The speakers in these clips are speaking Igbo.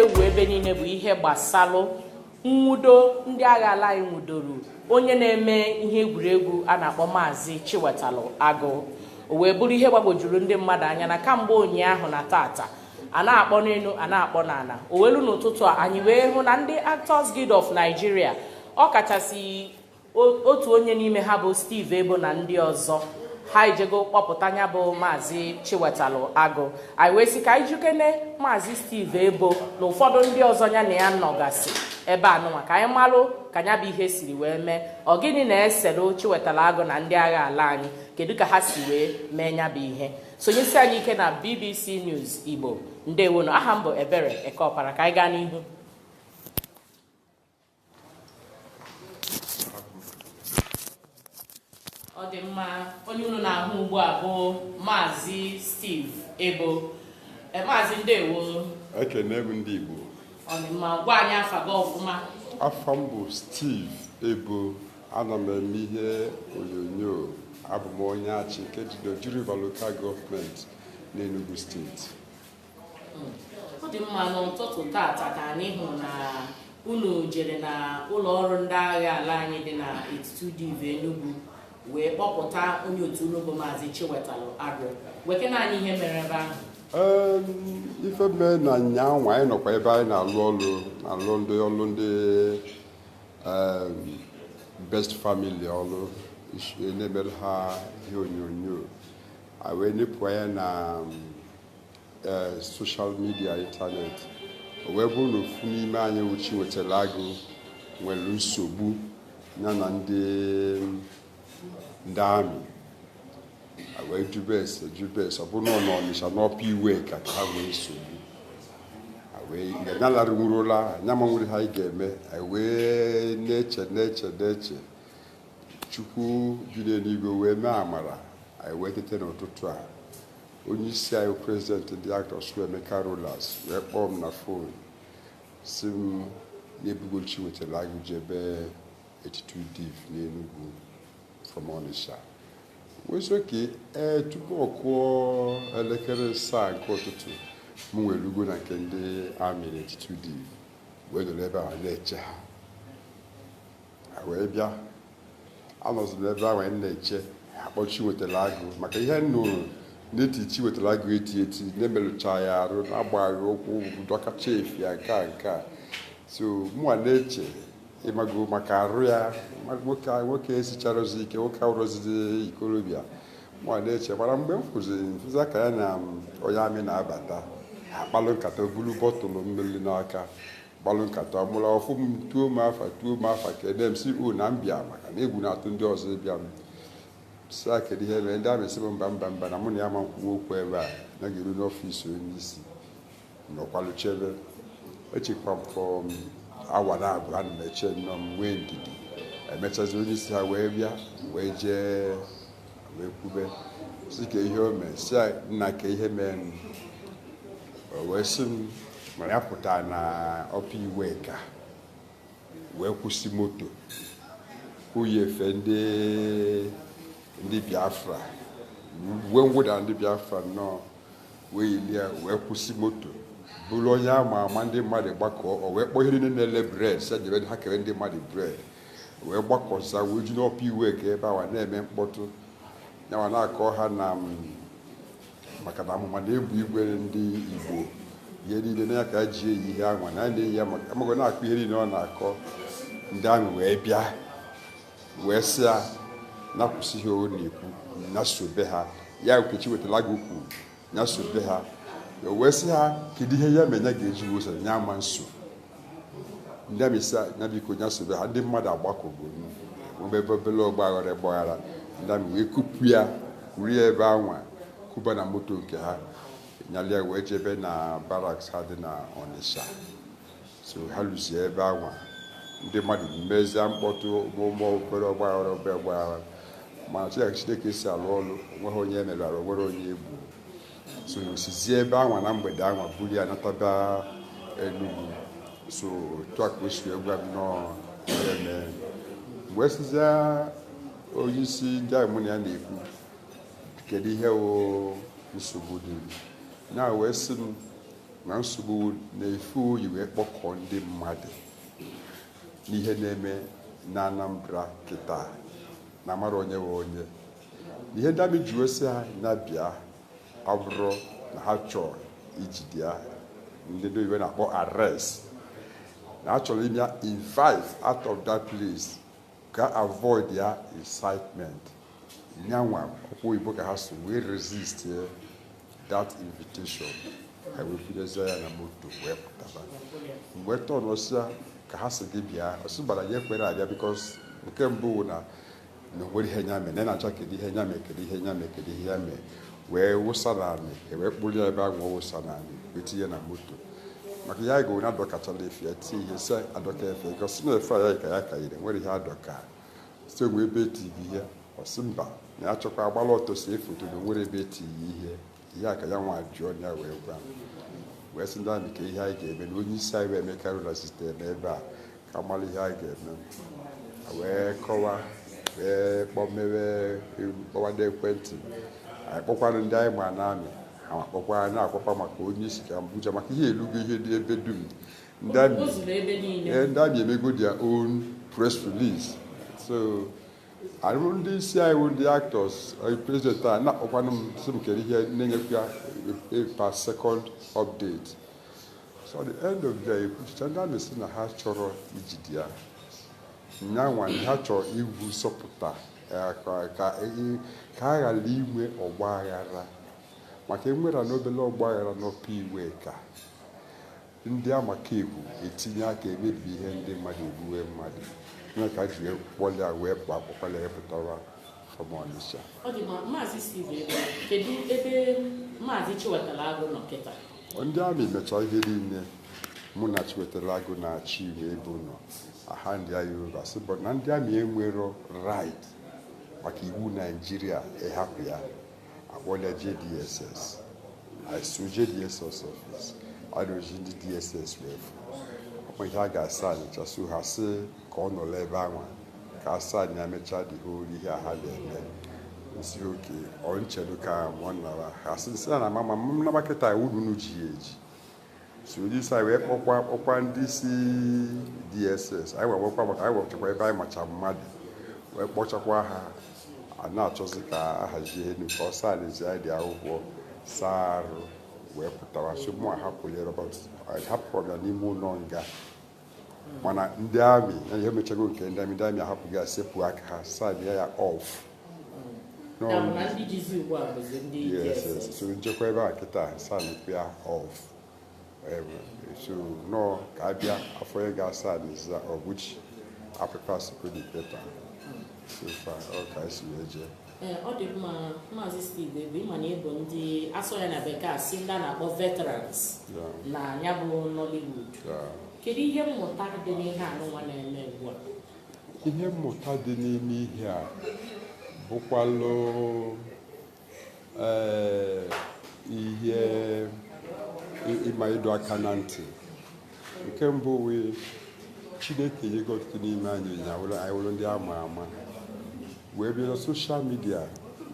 ewu ebe niile bụ ihe gbasalụ nwudo ndị agha ala anyị nwudoro onye na-eme ihe egwuregwu a na-akpọ maazị Chiwetalụ Agụ o wee bụrụ ihe gbagwojuru ndị mmadụ anya na kamgbe ụnyaahụ na tata a na-akpọ n'elu a na-akpọ n'ala o wee luo n'ụtụtụ a anyị wee hụ na ndị Actors Guild of Nigeria ọ kachasị otu onye n'ime ha bụ Steve Eboh na ndị ọzọ ha ejego kpọpụta nya bụ maazị Chiwetalụ Agụ anyị wee sị ka anyị jụkene maazị Steve Eboh na ụfọdụ ndị ọzọ ya na ya nọgasị ebe anụnwa ka anyị malụ ka nya bụ ihe siri wee mee ọ gịnị na-esere Chiwetalụ Agụ na ndị agha ala anyị kedu ka ha si wee mee nya bụ ihe sonyesi anyị ike na BBC News Igbo ndewonụ aha m bụ Ebere Ekeọpara ka anyị gaa n'ihu ọ dị mma onye unu na-ahụ ugbu a bụ maazị Steve Eboh eh, maazị ndewo ekene m ndị igbo ọ dị mma gwa anyị afa gị ọfụma afa m bụ Steve Eboh ana m eme ihe onyonyo abụ m onye Achị nke dị n'Oji River Local Government n'Enugu steeti ọ dị mma n'ụtụtụ tata ka anyị hụrụ na unu jere na ụlọ ọrụ ndị agha ala anyị dị na eighty two Div Enugu wee kpọpụta onye otu unu bụ maazị Chiwetalụ Agụ gwakene anyị ihe mere ebe ahụ Ee, ife mee na nyaa nwa anyị nọkwa ebe anyị na-alụ ọlụ alụ ndị ọlụ ndị em, best family ọlụ isi- na-emere ha ihe onyonyo a wee nepụ anya na e, soshal midia ịntanetị o wee bụrụ na ofu n'ime anyị bụ Chiwetalụ Agụ nwere nsogbu ya na ndị ndị amị wee jụbe ese jụbe ese ọ bụrụ na ọ nọ Ọnịsha n'Upper Iweka ha nwee nsogbu anyị alarụnwurọ ụla anya ma e nwerọ ihe anyị ga-eme anyị wee na-eche na-eche na-eche chukwu bi n'eluigwe wee mee amara anyị wee tete n'ụtụtụ a onye isi anyị prezidenti ndị actors bụ Emeka Rollas wee kpọọ m na fon sị m na e bugo Chiwetalụ Agụ jebe eighty two div n'Enugu from Onitsha wee sị okay ee tupu ọ kụọ elekere asaa nke ụtụtụ mụ erugo na nke ndị amị na eighty two div wee nọrọ ebe ahụ na-eche ha wee bịa anọzi m ebe anwa na-eche akpọ Chiwetalu Agụ maka ihe m nụrụ na e ti Chiwetalu Agụ eti eti na-emerụcha ya arụ na-agbagharị ụkwụ dọkacha efe ya nke a nke a so mụnwa na-eche ịmago maka arụ ya ma- nwoke a- nwoke esicharozi ike nwoke awụrọzi ikorobịa mụnwa na-eche mana mgbe m fụzi ka ya na onye amị na-abata akpalụ nkata buru bọtụlụ mmiri n'aka gbalụ nkata mụrụ ọ fụ m tuo m afa tuo m afa kene m sị o na m bịa maka na egwu na-atụ ndị ọzọ ịbịa m sị ya kedu ihe mere ndị amị sị m mba mba mba na mụ na ya ama nkwu okwu ebe a na a ga-eru n'ọfịs onye isi nọkwalụ chebe echekwa m fọ m awa na abụọ ana m eche nnọọ m nwee ndidi emechazi onye isi ha wee bịa wee jee wee kwube sị kee ihe o mee sị nna kee ihe mee m o wee sị m na ya pụta na Upper Iweka wee kwụsị moto o yi efe ndị ndị Biafra uwe mwụda ndị Biafra nnọọ wee yilie wee kwụsị moto bụrụ onye a ma ama ndị mmadụ gbakọọ o wee kpọọ ihe niile na-ele bread sị jebe ha kere ndị mmadụ bread wee gbakọzia wee ju na Upper Iweka ebe anwa na-eme mkpọtụ yanwa na-akọ ha na maka na amụma na egbe igwe ndị Igbo ihe niile na ya ka e ji eyi ihe anwa na a na-eyi ya maka ịmago ọ na-akọ ihe niile ọ na-akọ ndị amị wee bịa wee sị ya ya kwụsị ihe ọ na-ekwu ya sobe ha ya nke Chiwetalu Agụ kwuru ya sobe ha ya wee sị ha kedu ihe ya mere ya ga-eji wee so ha ya ama nso ndị amị sị ya biko ya sobe ha ndị mmadụ agbakọgo nwebe obele ọgbaghara ọgbaghara ndị amị wee kupu ya kuru ya ebe anwa kuba na moto nke ha nyalụ ya wee jebe na barracks ha dị na Ọnịsha so ha luzie ebe anwa ndị mmadụ mezie mkpọtụ ụmụmụ obere ọgbaghara obere ọgbaghara mana chi- ka Chineke si alụ ọlụ o nweghị onye e merụ arụ o nwerọ onye e gbu so e sizie ebe anwa na mgbede anwa buru ya nataba Enugu so otu a ka o si wee gwa m nnọọ ihe mere m wee sịzie onye isi ndị amị mụ na ya na-ekwu kedu ihe wụ nsogbu dị ya wee sị m na nsogbu wụ na efe o yi wee kpọkọọ ndị mmadụ n'ihe na-eme na Anambra kịta na amarọ onye wụ onye na ihe ndị amị ji wee sị ha na-abịa abụrọ na ha chọọ ijide ya ndị ndị oyibo na-akpọ arrest na ha chọrọ ime ya invite out of that place ka avoid ya incitement nyanwa ọkwa oyibo ka ha sụ wee resist that invitation ha wee bunyezie ya na moto wee pụtaba mgbe tọn ọsịa ka ha sị gị bịa ọ sị mba na ya ekwero abịa because nke mbụ wụ na na o nwere ihe nya mee na na-achọ kedu ihe nya mee kedu ihe nya mee kedu ihe ya mee wee wụsa n'anị e wee kpụrụ ya ebe ahụ ọ wụsa n'anị wee tinye na moto maka ya ga na adọkachala efe ya tie ihe sị adọka efe egosi na efe ya ka ya ka yiri nwere ihe adọka sị o nwe ebe e ti gị ihe ọ sị mba na ya chọkwa agbala ọtọ see foto na nwere ebe e ti gị ihe a ka ya nwa jụọ ya wee gwa wee sị ndị amị kee ihe anyị ga-eme na onye isi anyị wụ Emeka Rollas site n'ebe a ka mara ihe anyị ga-eme wee kọwa wee kpọmewe kpọwa ndị ekwentị anyị kpọkwanụ ndị anyị ma na amị ha ma kpọkwa anyị na-akpọkwa maka onye isi ka Abuja maka ihe elugo ihe dị ebe dum ndị amị O zuru ebe niile. ee, ndị amị emego their own press release so ndị isi anyị bụ ndị actors eh, president a na-akpọkwanụ m sị m kere ihe na-enyekwa ya a- a per second update so the end of the e kwuchicha ndị amị sị na ha chọrọ ijide ya nyanwa ha chọrọ iwu sọpụta ka a ghara inwe ọgba aghara maka e nwere any obele ọgba aghara n'Upper Iweka ndị amakaekwu etinye aka emebi ihe ndị mmadụ egbuwe mmadụ nya ka e ji kpọlị ya wee kpa akpụkpala ya pụtara from Onitsha. Ọ dị ma Maazị Steve Eboh, kedu ebe Maazị Chiwetalu Agu nọ kịta? Ndị amị mechaa ihe niile mụ na Chiwetalu Agu na-achị ime ebe ụlọ aha ndị agha Yoruba sị bụ na ndị amị enwero right maka iwu Naijiria ịhapụ ya a kpọlị ya je DSS I so je DSS office a na-eji ndị DSS wee fụ ọkwa ihe a ga-asignịcha so ha sị ka ọ nọrọ ebe anwa ka a sign ya emechaa dị ha olu ihe a ha ga-eme m sị okay chelu ka mụ nara ha sị m sị ha na ma ma m naba kịta ọ wụlụ unu ji ya eji so onye isi anyị wee kpọkwa kpọkwa ndị isi DSS anyị wee nwekwa maka anyị nwechakwa ebe anyị macha mmadụ wee kpọchakwa ha a na-achọzi ka a hazie elu ka ọ signịzie dị akwụkwọ sign out wee pụtawa so mụ ahapụli ya but ahapụrụ ya n'ime ụlọ nga mana ndị amị emechago nke ndị amị ndị amị ahapụgo ya sepụ aka ha sign ya off so m chekwa ebe a kịta sign ya off so nọọ ka a bịa afọ ya ga-asa n'iza ọbụchi apịpa sikodi peta so far ọ ka e si wee jee Ee, ọ dị mma maazị steve ebe ịma na ịbụ ndị asụọ ya na bekee asị ndị a na-akpọ veterans Ya, na ya bụ nollywood ya. kedu ihe mmụta dị n'ihe anụnwa na-eme ugbu a ihe mmụta dị n'ime ihe a bụkwalụ ee, ihe ị- ịma ịdọ aka na ntị nke mbụ wụ chineke nyego ọtụtụ n'ime anyị na anyị wụrụ ndị ama ama wee bịa na social media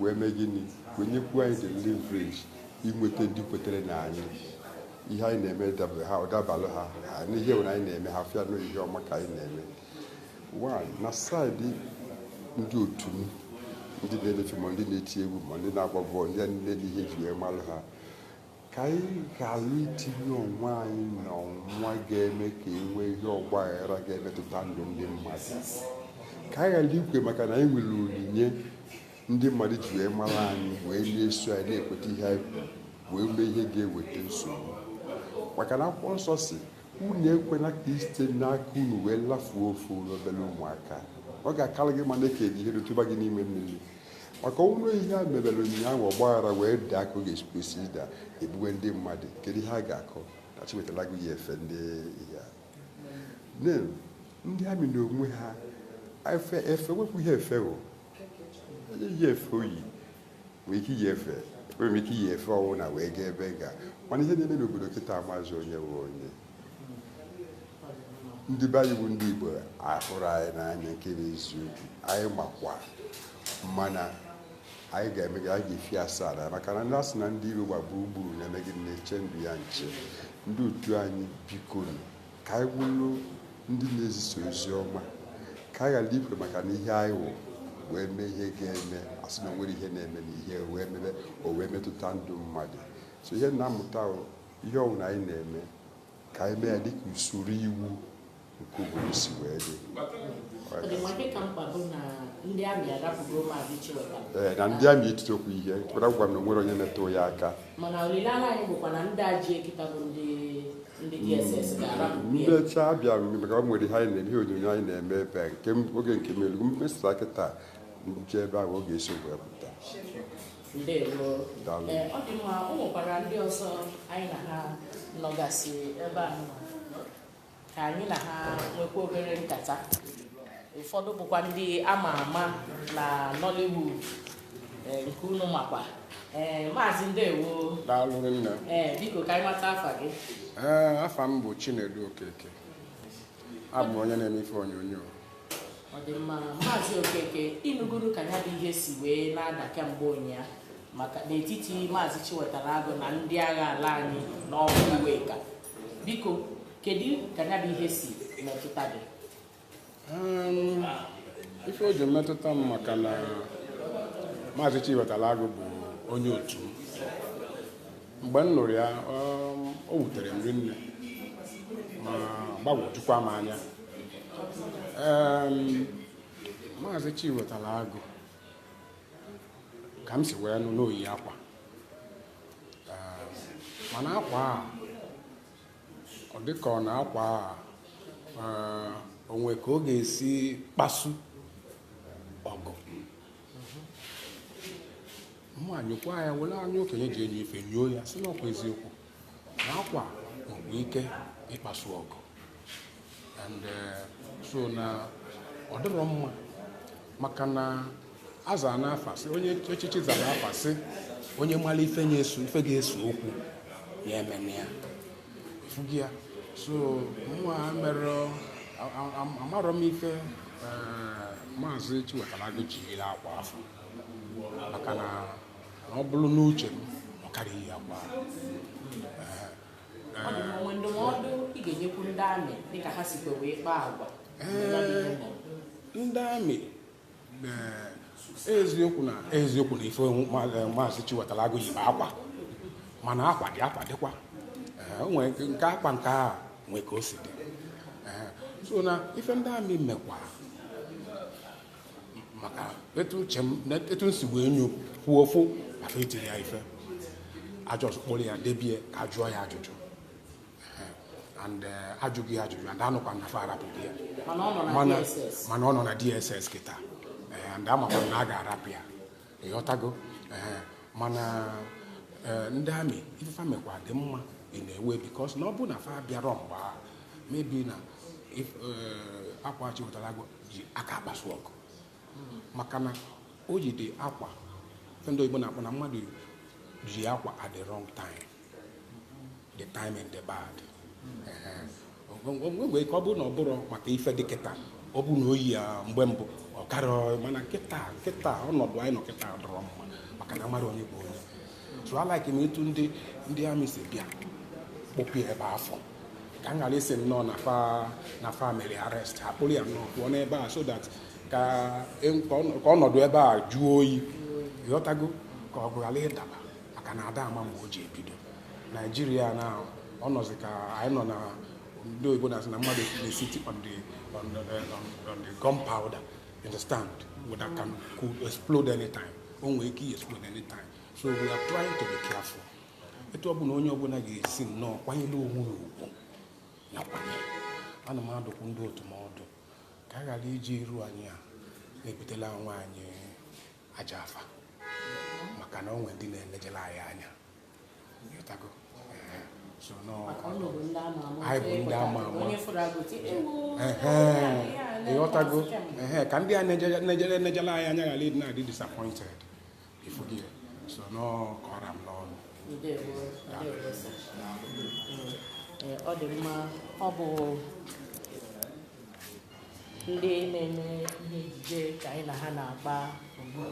wee mee gịnị wee nyekwu anyị the leverage inweta ndị kwetere na anyị ihe anyị na-eme dabalụ ha n'ihe anyị na-eme ha fụ na ihe ọma ka anyị na-eme na side ndị otu m ndị na-eme film ma ndị na-eti egwu ma ndị na-agba bọọlụ ndị a niile n'ihe e ji wee malụ ha ka anyị ghara itinye onwe anyị n'ọnwa ga-eme ka e nwee ihe ọgba aghara ga-emetụta ndụ ndị mmadụ ka anyị ghara ikwe maka na anyị nwere onyinye ndị mmadụ ji wee mara anyị wee na-eso anyị na-ekweta ihe anyị kwuru wee mee ihe ga-eweta nsogbu maka na akwụkwọ nsọ si unu ekwena ka e site n'aka unu wee lafuo ofu obere ụmụaka ọ ga-akara gị mma na e kedo ihe arọ tụba gị n'ime mmiri maka ọ wụrụ ihe a mebere ụnyaahụ ọgbaghara wee daa ka ọ ga-esi kwesị ịda egbuwe ndị mmadụ kedu ihe a ga-akọ na Chiwetalu Agu yi efe ndị ya ndị army na onwe ha efe efe wepụ ihe efe o ihe efe o yi nwee ike iyi efe nwere ike iyi efe ọwụna wee gaa ebe ọ ga mana ihe na-eme n'obodo kịta amazi onye wụ onye ndị be anyị bụ ndị Igbo ahụrụ anyị n'anya nke bụ eziokwu anyị makwa mana anyị ga-eme gịnị anyị ga-efi asaa n'anya maka na ndị asị na ndị iro gba gburugburu na-eme gịnị na-eche ndụ ya nche ndị otu anyị biko ka anyị bụrụ ndị na-ezisa ozi ọma ka anyị ghara ikwe maka na ihe anyị wụ wee mee ihe ga-eme a sị na o nwere ihe na-eme na ihe wee mebe o wee metụta ndụ mmadụ so ihe na-amụta ihe ọbụla anyị na-eme ka anyị mee ya dịka usoro iwu nke obodo si wee dị ee na ndị army etitokwu ihe kwara gwa m na o nwere onye metụ ya aka ndị ọcha abịa maka o nwere ihe anyị na-eme ihe onyonyo anyị na-eme ebe a nke oge nke melu mkpesa kịta nche ebe ahụ ọ ga-esi wee pụta ndewo Daalụ. Ee, ọ dị mma o nwekwara ndị ọzọ anyị na ha nọgasị ebe a nọ. ka anyị na ha nwekwa obere nkata ụfọdụ bụkwa ndị ama ama na Nollywood ee, nke unu makwa Ee, maazị ndewo daalụ nne ee biko ka anyị mata afa gị ee afa m bụ chinedu okeke abụ m onye na-eme ife onyonyo ọ dị mma maazị Okeke ịnụgoro ka ya bụ ihe si wee na-ada kemgbe ụnyaa maka n'etiti maazị Chiwetalu Agụ na ndị agha ala anyị na Upper Iweka biko kedu ka ya bụ ihe si metụta gị Um, ife o ji metụta m maka na maazị Chiwetalu Agụ bụ onye otu m mgbe m nụrụ ya um, o wutere m rinne ma gbagwojukwa m anya um, maazị Chiwetalu Agụ ka m si wee nụ na o yi akwa um, mana akwa a ọ dịka ọ na akwa a uh, o nwe ka ọ ga-esi kpasu mụ enyokwa ya were anya okenye ji enyo ife nyoo ya sị na ọ kwa eziokwu na akwa nwere ike ịkpasu ọgụ and eh, so na ọ dịrọ mma maka na aza n'afa sị onye echichi zara afa sị onye mara ife ga-eso okwu ya emena ya fugi ya so mụnwa mere amarọ m ife eh, maazị Chiwetalu Agụ jiri akwa afụ maka na ọ bụrụ n'uche m ọ karịghị akwa eh, ọ dị mma, nwee ndụmọdụ ị ga-enyekwu ndị amị dịka ha sikwa wee kpaa agwa ee ndị amị eziokwu na eziokwu na ife maazị Chiwetalu Agụ yi bụ akwa mana akwa dị akwa dịkwa nke akwa nke a nwee ka o si dị so na ife ndị amị mekwara amaka etu uche m etu m si wee nyokwuo ofu maka etirọ ya ife a just kpụrụ ya debie ka a jụọ ya ajụjụ and eh, a jụgo ya ajụjụ and anụkwa na fa arapụgo ya mana ọ nọ na DSS kịta Eh, and amakwa m na a ga-arapụ ya ịghọtago Eh, mana eh, ndị amị ife fa mekwa dị mma in a way because na ọ bụ na fa bịarọ mgbe ahụ maybe na if- eh, akwa Chiwetalu Agụ yi aka akpasu ọgụ maka na o jide akwa ndị oyibo na-akpọ na mmadụ iyi akwa at the wrong time the timing dị bad o nwe ike ọ bụrụ na ọ bụrọ maka ife dị kịta ọ bụ na o yi ya mgbe mbụ ọ karịa mana kịta kịta ọnọdụ anyị nọ kịta adịrọ mma maka na amarọ onye bụ onye so a like m etu ndị ndị amị si bịa kpọpụ ya ebe afụ ka m ghara ịsị nnọọ na fa na fa mere arrest a kpụrụ ya nnọọ pụọ n'ebe a so that ka e- ka ọnọ- ka ọnọdụ ebe a jụọ oyi ghọtago ka ọgụ ghara ịdaba maka na ada ama mgbe o ji ebido naijiria na ọ nọzi ka anyị nọ na ndị oyibo na-asị na mmadụ na-esiti on the gunpowder you understand that can explode anytime o nwere ike i explode anytime so we are trying to be careful etu ọ bụla onye ọbụla ga-esi nnọọ kwanyere onwe ya ugwu nakwa ana m adụkwu ndị otu m ọdụ ka a ghara iji iru anyị a na-ebutela onwe anyị ajọ afa maka na o nwe ndị na-enejela anyị anya ịghọtago Ehe. so nọ anyị bụ ndị ama ama ịghọtago Ehe, ka ndị a na-enejela anyị anya ghara ịdị na-adị disappointed ịfụgo so nọ ka ọ ra m n'ọnụ Ndewo, ndewo, sir. Ee, ọ dị mma ọ bụ ndị na-eme ihe ejije ka anyị na ha na-agba ugbu a.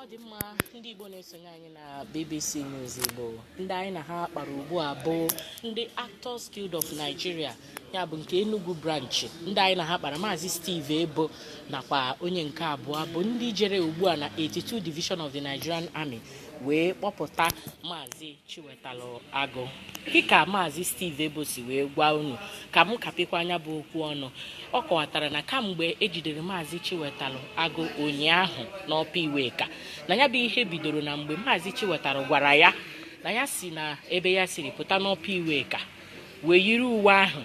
ọ dị mma ndị igbo na-esonye anyị na bbc news igbo ndị anyị na ha kpara ugbu a bụ ndị actors guild of nigeria ya bụ nke Enugu branch ndị anyị na ha kpara maazị Steve Ebo nakwa onye nke abụọ bụ ndị jere ugbu a na 82 Division of the Nigerian Army wee kpọpụta maazị Chiwetalụ Agụ dịka maazị Steve Ebo si wee gwa unu ka m kapịkwa nya bụ okwu ọnụ ọ kọwatara na kamgbe ejidere maazị Chiwetalụ Agụ ụnyaahụ n'Upper Iweka na ya bụ ihe bidoro na mgbe maazị Chiwetalụ gwara ya na ya si na ebe ya siri pụta n'Upper Iweka wee yiri uwe ahụ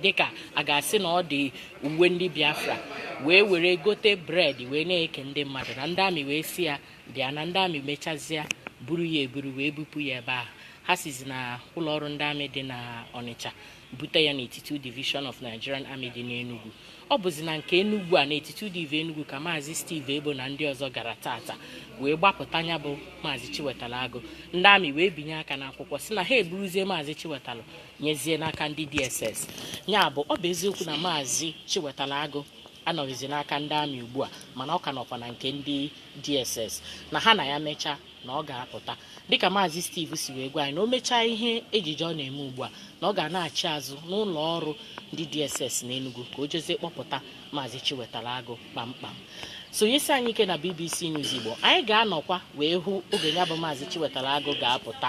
dịka a ga-asị na ọ dị uwe ndị biafra wee were gote bread wee na-eke ndị mmadụ na ndị amị wee sị ya bịa na ndị amị mechazịa buru ya eburu wee bupụ ya ebe ahụ ha sizi na ụlọ ọrụ ndị amị dị na ọnịcha bute ya na 82 division of nigerian army dị n'enugwu ọ bụzi na nke Enugwu a na 82 Div Enugwu ka maazị Steve Ebo na ndị ọzọ gara taata wee gbapụta nya bụ maazị Chiwetalu Agụ ndị amị wee binye aka n'akwụkwọ sị na ha eburuzie maazị Chiwetalu nyezie n'aka ndị DSS ya bụ ọ bụ eziokwu na maazị Chiwetalu Agụ anọghịzi n'aka ndị amị ugbu a mana ọ ka nọkwa na nke ndị DSS na ha na ya mechaa na ọ ga-apụta dịka maazị Steve si wee gwa anyị na o mechaa ihe ejije ọ na-eme ugbu a na ọ ga-anaghachi azụ n'ụlọ ọrụ ndị DSS n'Enugu ka o jezie kpọpụta maazị Chiwetara Agụ kpamkpam sonyesi anyị ike na BBC News Igbo anyị ga-anọkwa wee hụ oge ya bụ maazị Chiwetara Agụ ga-apụta